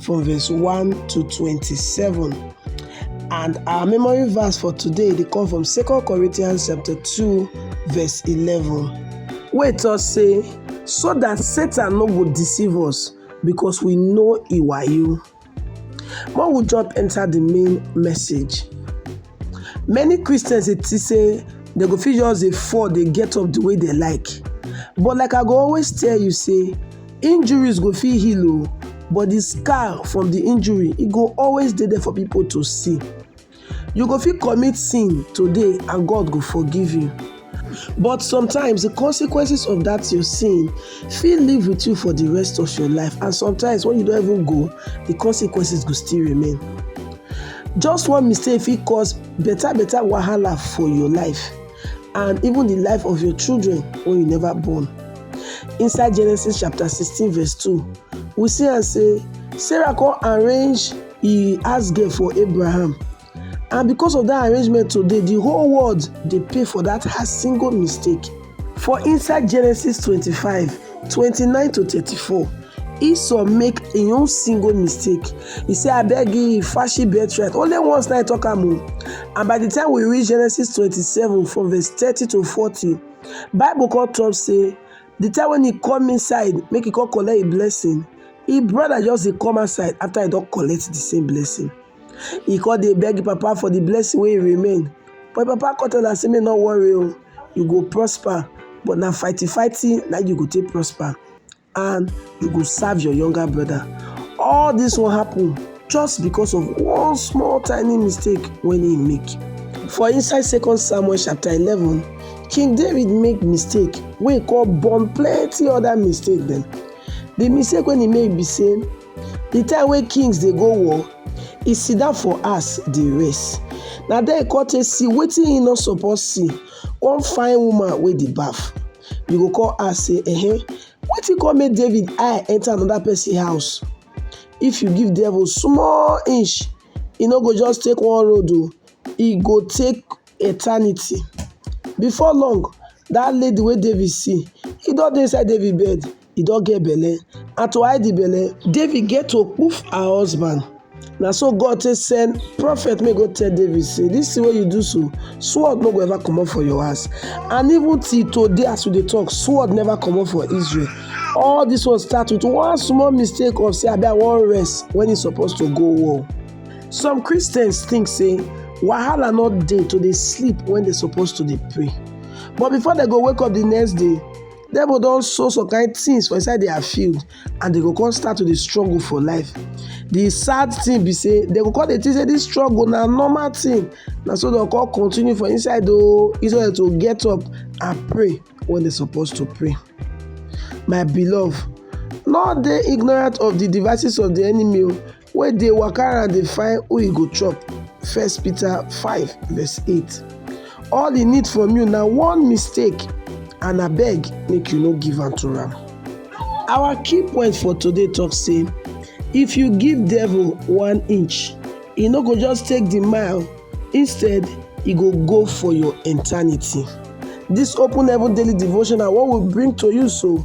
from verse 1 to 27. And our memory verse for today they come from 2 Corinthians chapter 2, verse 11. Wait us say, so that Satan no go deceive us because we know he were you. More will jump enter the main message. Many Christians they say they go feel just a fall, they get up the way they like. But like I go always tell you, say Injuries go fit heal o, but the scar from the injury e go always dey there for people to see. You go fit commit sin today and God go forgive you. But sometimes the consequences of that your sin fit live with you for the rest of your life and sometimes when you don't even go, the consequences go still remain. Just one mistake fit cause better better wahala for your life. and even the life of your children when you never born. Inside Genesis chapter 16 verse 2, we see and say, Sarah can arrange he asked girl for Abraham. And because of that arrangement today, the whole world they pay for that her single mistake. For inside Genesis 25, 29 to 34, Esau make im own single mistake. He say, abeg give Fashi birthright. Only once na I talk am o. And by the time we read Genesis 27 from verse 30 to 40, Bible come talk say, the time when he come inside, make he come collect a blessing, his brother just dey come outside after he don collect the same blessing. He come dey beg papa for the blessing wey remain. But papa come tell am say make no worry o, you go prosper, but na fighty fighty na you go take prosper. and you go serve your younger brother. All this one happen just because of one small tiny mistake when he make. For inside Second Samuel chapter 11, King David make mistake wey call born plenty other mistake dem. The mistake when he make be say the time wey kings dey go war, he sit down for house dey rest. Na there he come take see wetin he no suppose see, come find woman wey dey baff. you go come ask say eh wetin come make david eye enter another person house if you give devil small inch e no go just take one road o e go take eternity before long that lady wey david see e don dey inside david bed e don get belle and to hide the belle David get to kpuf her husband na so God take send prophet make go tell David say this thing wey you do so sword no go ever comot for your house and even till today as we dey talk sword never comot for Israel all this one start with one small mistake of say abi I wan rest when e suppose to go war some Christians think say wahala no dey to dey sleep when they suppose to dey pray but before they go wake up the next day Devil don sow some kind things for inside their field and they go come start to dey struggle for life. The sad thing be say they go come dey think say this struggle na normal thing na so dem come continue for inside o instead to get up and pray when they suppose to pray. My beloved no dey ignorant of the devices of the enemy o wey dey waka around dey find who e go chop. 1 Peter 5 verse 8. All e need from you na one mistake and abeg make you no give am to am. Our key point for today talk say if you give devil one inch, e no go just take the mile, instead e go go for your eternity. This open heaven daily devotion na what we bring to you so